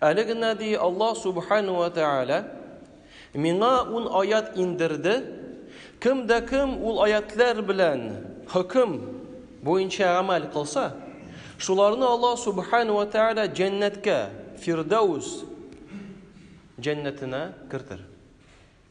Әле генә ди Аллаһ Субхану вә Тәгалә, Миңа ун аять индерде, кем дә кем ул аятләр белән хөкем буенча гамәл кылса, шуларны Аллаһ Субхану вә Тәгалә җәннәткә, Фирдәүс җәннәтенә кертер.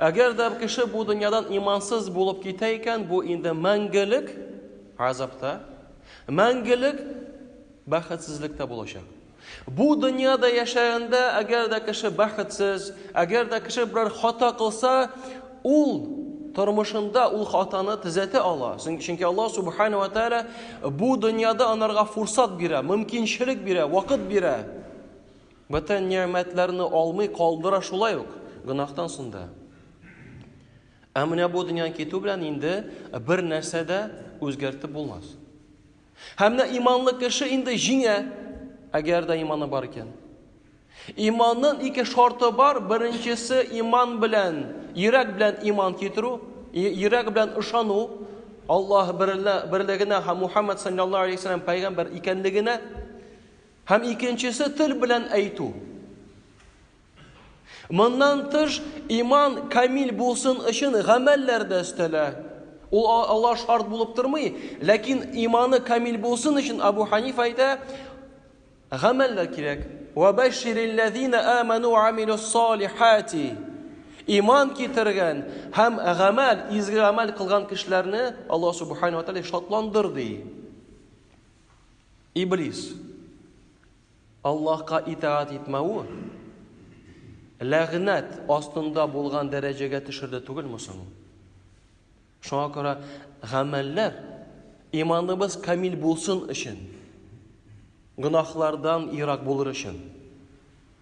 Әгәр дә кеше бу дөньядан имансыз булып китә икән, бу инде мәңгелек азапта, мәңгелек бәхетсезлектә булачак. Бу дөньяда яшәгәндә, әгәр дә кеше бәхетсез, әгәр дә кеше берәр хата кылса, ул тормышында ул хатаны төзәтә ала. Чөнки Аллаһ субхана ва тааля бу дөньяда анарга фурсат бирә, мөмкинчелек бирә, вакыт бирә. Бөтен нигъмәтләрне алмый калдыра шулай ук гөнаһтан сунда. Ә менә бу дөньядан китү белән инде бер нәрсә дә үзгәртеп булмас. Һәм менә иманлы кеше инде җиңә, әгәр дә иманы бар икән. Иманның ике шарты бар. Беренчесе иман белән, йөрәк белән иман китерү, йөрәк белән ышану Аллаһ берлегенә һәм Мухаммад саллаллаһу алейһи ва сәлләм пәйгамбер икәнлегенә. Һәм икенчесе тел белән әйтү. Моннан тыш, иман камил булсын өчен гамәлләр дә өстәлә. Ул алар шарт булып тормый, ләкин иманы камил булсын өчен Абу Ханиф әйтә, гамәлләр кирәк. Ва баширилләзина аману ва амилус салихати. Иман китергән һәм гамәл, изге гамәл кылган кешеләрне Аллаһ субхана ва тааля шатландыр ди. Иблис Аллаһка итаат итмәве ләгънәт астында булган дәрәҗәгә төшерде түгел мусың? Шуңа күрә гамәлләр иманыбыз камил булсын өчен, гөнаһлардан ерак булыр өчен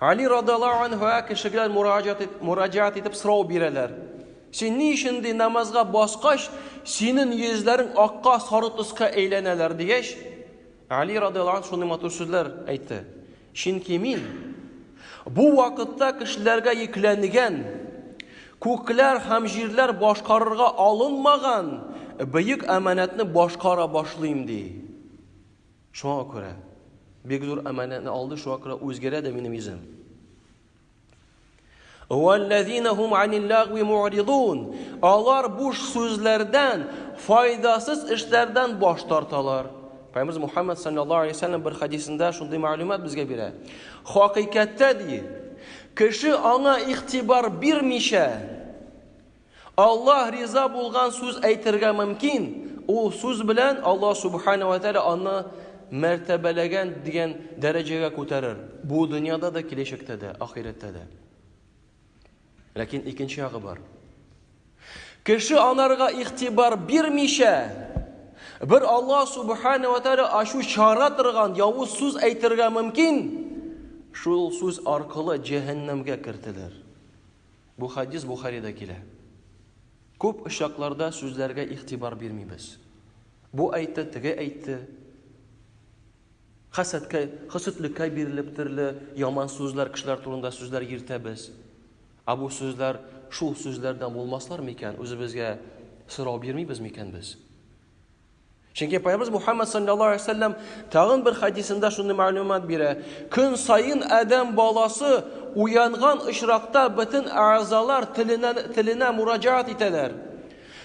Али радаллаһу анһуа кешегә мураҗат ит, мураҗат итеп сорау бирәләр. Син ни өчен ди намазга баскач, синең йөзләрең акка сары төскә әйләнәләр дигәч, Али радаллаһу анһу шундый матур сүзләр әйтте. Чөнки мин бу вакытта кешеләргә йөкләнгән, күкләр һәм җирләр башкарырга алынмаган бөек әманәтне башкара башлыйм ди. Шуңа күрә. Бик зур әманәтне алды, шуңа күрә үзгәрә дә минем йөзем. Валлазинахум аниллагви му'ридун. Алар буш сүзләрдән, файдасыз эшләрдән баш тарталар. Пәйгамбер Мухаммад саллаллаһу алейһи вәсәлләм бер хадисында шундый мәгълүмат безгә бирә. Хакыйкатьтә ди, кеше аңа игътибар бирмичә, Аллаһ риза булган сүз әйтергә мөмкин. Ул сүз белән Аллаһ Субхана ва Тәгалә аны мәртәбәләгән дигән дәрәҗәгә күтәрер. Бу дөньяда да, киләчәктә дә, ахирәттә дә. Ләкин икенче ягы бар. Кеше анарга игътибар бирмичә, бер Аллаһ Субхана ва Тәгалә ачу чара торган явыз сүз әйтергә мөмкин. Шул сүз аркылы җәһәннәмгә кертелер. Бу хәдис Бухарида килә. Күп очракларда сүзләргә игътибар бирмибез. Бу әйтте, теге әйтте. Хәсәткә, хөсетлеккә бирелеп төрле яман сүзләр, кешеләр турында сүзләр йөртәбез. Ә бу сүзләр шул сүзләрдән булмаслар микән? Үзебезгә сорау бирмибез микән без? Чөнки Пайгамбарыбыз Мухаммад саллаллаһу алейһи вәсәлләм тагын бер хадисында шундый мәгълүмат бирә. Көн саен Адәм баласы уянган очракта бөтен әгъзалар теленә теленә мураҗаат итәләр.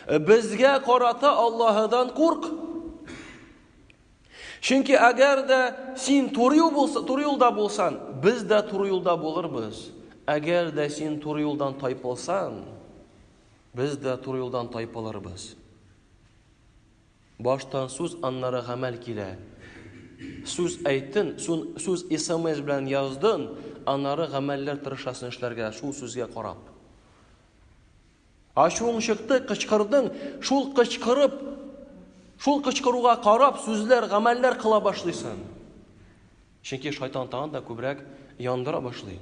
Безгә карата Аллаһыдан курк. Чөнки әгәр дә син туры юл булса, туры юлда булсан, без дә туры юлда булырбыз. Әгәр дә син туры юлдан тайпылсан, без дә туры юлдан тайпылырбыз. Баштан сүз, аннары гамәл килә. Сүз әйттен, сүз смс белән яздын, аннары гамәлләр тырышасың эшләргә, шул сүзгә карап. Ачуың чыкты, кычкырдың, шул кычкырып, шул кычкыруга карап сүзләр, гамәлләр кыла башлыйсың. Чөнки шайтан тагын да күбрәк яндыра башлый.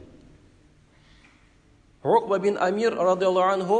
Рукба бин Амир радиаллаху анху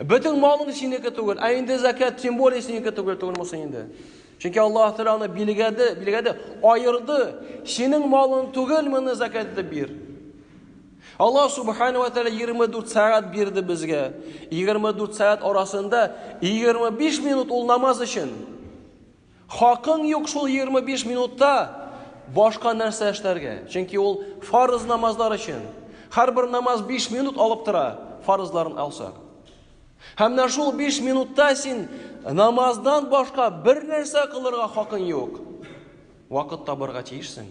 Бөтен малың синеке түгел, ә инде закят тем более синеке түгел түгел мосы инде. Чөнки Аллаһ Тәгалә аны билгәде, билгәде, аерды. Синең малың түгел, моны закят итеп бир. Аллаһ Субхану ва Тәгалә 24 сәгать бирде безгә. 24 сәгать арасында 25 минут ул намаз өчен. Хакың юк шул егерме биш минутта башка нәрсә эшләргә. Чөнки ул фарыз намазлар өчен. Һәрбер намаз биш минут алып тора, фарызларын алсак. Һәм менә шул биш минутта син намаздан башка бер нәрсә кылырга хакың юк. Вакыт табырга тиешсең.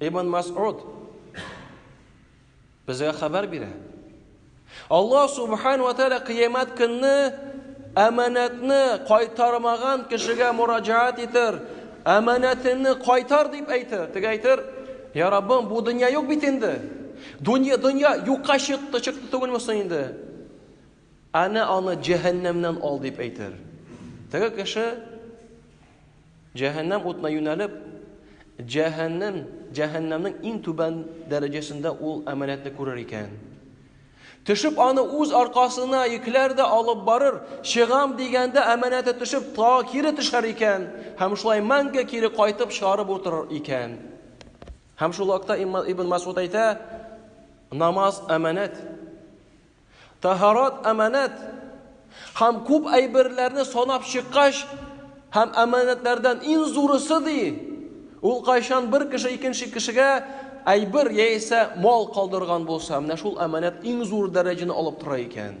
Ибн Масуд безгә хәбәр бирә. Аллаһ субхан ва тааля кыямат көнне әманәтне кайтармаган кешегә мураҗаат итер, әманәтеңне кайтар дип әйтер. Теге әйтер, "Я Раббым, бу дөнья юк бит инде. Дөнья дөнья юкка чыкты, чыкты түгелме соң инде? Аны аны җәһәннәмнән ал" дип әйтер. Теге кеше Җәһәннәм утына юнәлеп, җәһәннәм, җәһәннәмнең иң түбән дәрәҗәсендә ул әманәтне күрер икән. Төшеп аны үз аркасына йөкләр дә алып барыр, чыгам дигәндә әманәте төшеп тагы кире төшәр икән, һәм шулай мәңге кире кайтып чыгарып утырыр икән. Һәм шул вакытта Ибн Масуд әйтә, намаз әманәт. Таһарат, әманәт. Һәм күп әйберләрне санап чыккач, һәм әманәтләрдән иң зурысы ди, ул кайчан бер кеше икенче кешегә әйбер яисә мал калдырган булса, менә шул әманәт иң зур дәрәҗәне алып тора икән.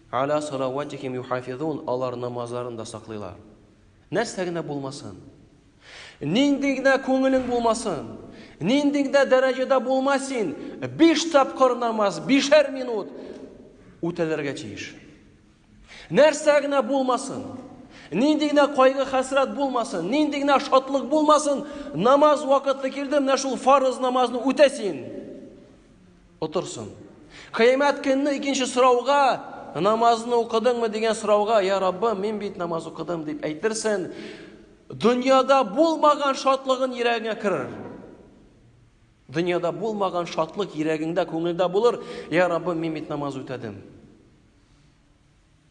Аля салаватихим юхафизун, алар намазларын да саклыйлар. Нәрсә генә булмасын. Нинди генә күңелең булмасын. Нинди генә дәрәҗәдә булма син, биш тапкыр намаз, бишәр минут үтәлергә тиеш. Нәрсә генә булмасын. Нинди генә кайгы хәсрәт булмасын, нинди генә шатлык булмасын, намаз вакыты килде, менә шул фарыз намазны үтә син. Утырсын. Кыямәт көнне икенче сорауга, намазны укыдыңмы дигән сорауга, я Раббым, мин бит намаз укыдым дип әйтерсен, дөньяда булмаган шатлыгын йөрәгеңә керер. Дөньяда булмаган шатлык йөрәгеңдә, күңелдә булыр. Я Раббым, мин бит намаз үтәдем.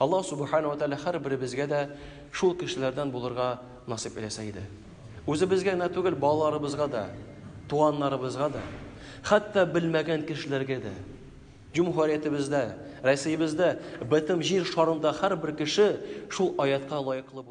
Аллаһ Субхана ва Тәгалә һәрберебезгә дә шул кешеләрдән булырга насыйп эйләсә иде. Үзебезгә генә түгел, балаларыбызга да, туганнарыбызга да, хәтта белмәгән кешеләргә дә. Җөмһүриятебездә, Россиябездә, бөтен җир шарында һәрбер кеше шул аятка лаеклы булып